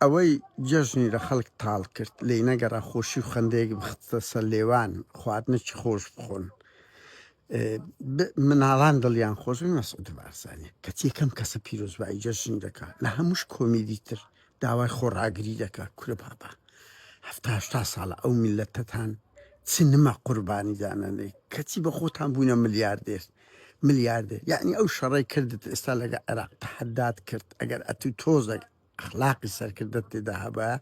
ئەوەی جەژنی لە خەڵک تاڵ کرد، لێی نەگەڕا خۆشی و خەندەیەک بخستە سەر لێوان، خواردنێکی خۆش بخۆن، مناڵان دڵیان خۆش بێت، مەسعود بارزانی کەچی یەکەم کەسە پیرۆزبایی جەژنی دەکا، لە هەمووش کۆمیدی تر داوای خۆڕاگری دەکا، کورە بابە هەفتا هەشتا ساڵە ئەو میللەتەتان چ نمە قوربانی دانەنێی، کەچی بە خۆتان بووینە ملیاردێر. ملیاردێر یەعنی ئەو شەڕەی کردت ئێستا لەگە عێراق تەحەدات کرد ئەگەر ئەتوو تۆزەک ئەخلاقی سەرکردەت تێدا هەبایە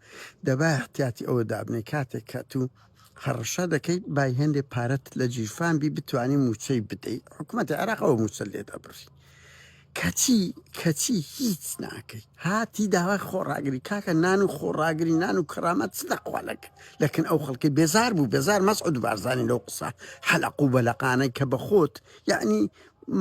دەبایە احتیاتی ئەوە دابنێ کاتێک کە تو هەڕەشە دەکەیت بای هێندێ پارەت لە جیرفان بی بتانی موچەی بدەیت حکوومەتی عێراق ئەوە موچە لێ دەبڕی کەچی کەچی هیچ ناکەی هاتی داوای خۆڕاگری کاکە نان و خۆڕاگری نان و کەرامەت چ دەخوالک لەکن ئەو خەڵکی بێزار بوو بێزار مەسعود بارزانانی لەو قسە حەلق و بەلەقانەی کە بە خۆت یعنی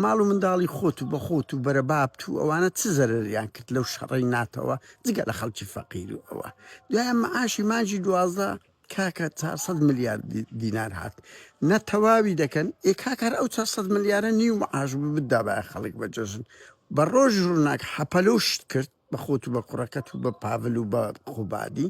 ماڵ و منداڵی خۆت و بەخۆت و بەرە بابت و ئەوانە چ زەرریان کرد لەو شەڕی ناتەوە جگە لە خەڵکی فەقیر و ئەوە دوایە معاشی مانجی دوازدە کاکە چار سەد ملیار دینار هات نە تەواوی دەکەن ئێ کاکار ئەو چار سەد ملیارە نیو معاش بدا بە خەڵک بە جەژن بە ڕۆژ ڕووناک حەپەلۆشت کرد بە خۆت و بە کوڕەکەت و بە پاڤل و بە قوبادی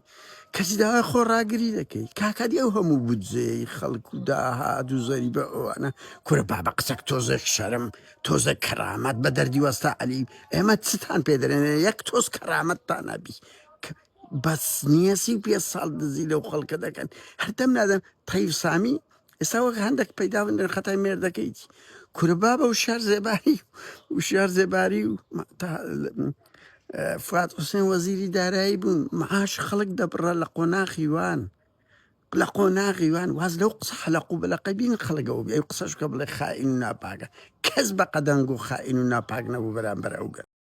کەسی داوای خۆ ڕاگری دەکەی کاکادی ئەو هەموو بودجەیەی خەڵک و داهات و زەری بە ئەوانە کورە با بە قسەک تۆزێک شەرم تۆزێک کەرامەت بە دەردی وەستا علی ئێمە چتان پێدرێنێ یەک تۆز کەرامەتتان نەبی بەس نییە سی و پێ ساڵ دزی لەو خەڵکە دەکەن هەردەم نادەم تەیف سامی ئێستا وەک هەندێک پەیدا بن دەن خەتای مێر دەکەیت کورە بابە و شار زێباری و شار زێباری و ما- تا- اه، فواد حوسێن وەزیری دارایی بوون معاش خەڵک دەبڕە لە قۆناخی وان لە قۆناغی وان واز لەو قسە حەلەق و بەلەقەی بین خەڵگەوە بێ ئەو قسەش کە بڵێ خائین و ناپاکە کەس بە قەدەنگ و خائین و ناپاک نەبوو بەرامبەر ئەو گەل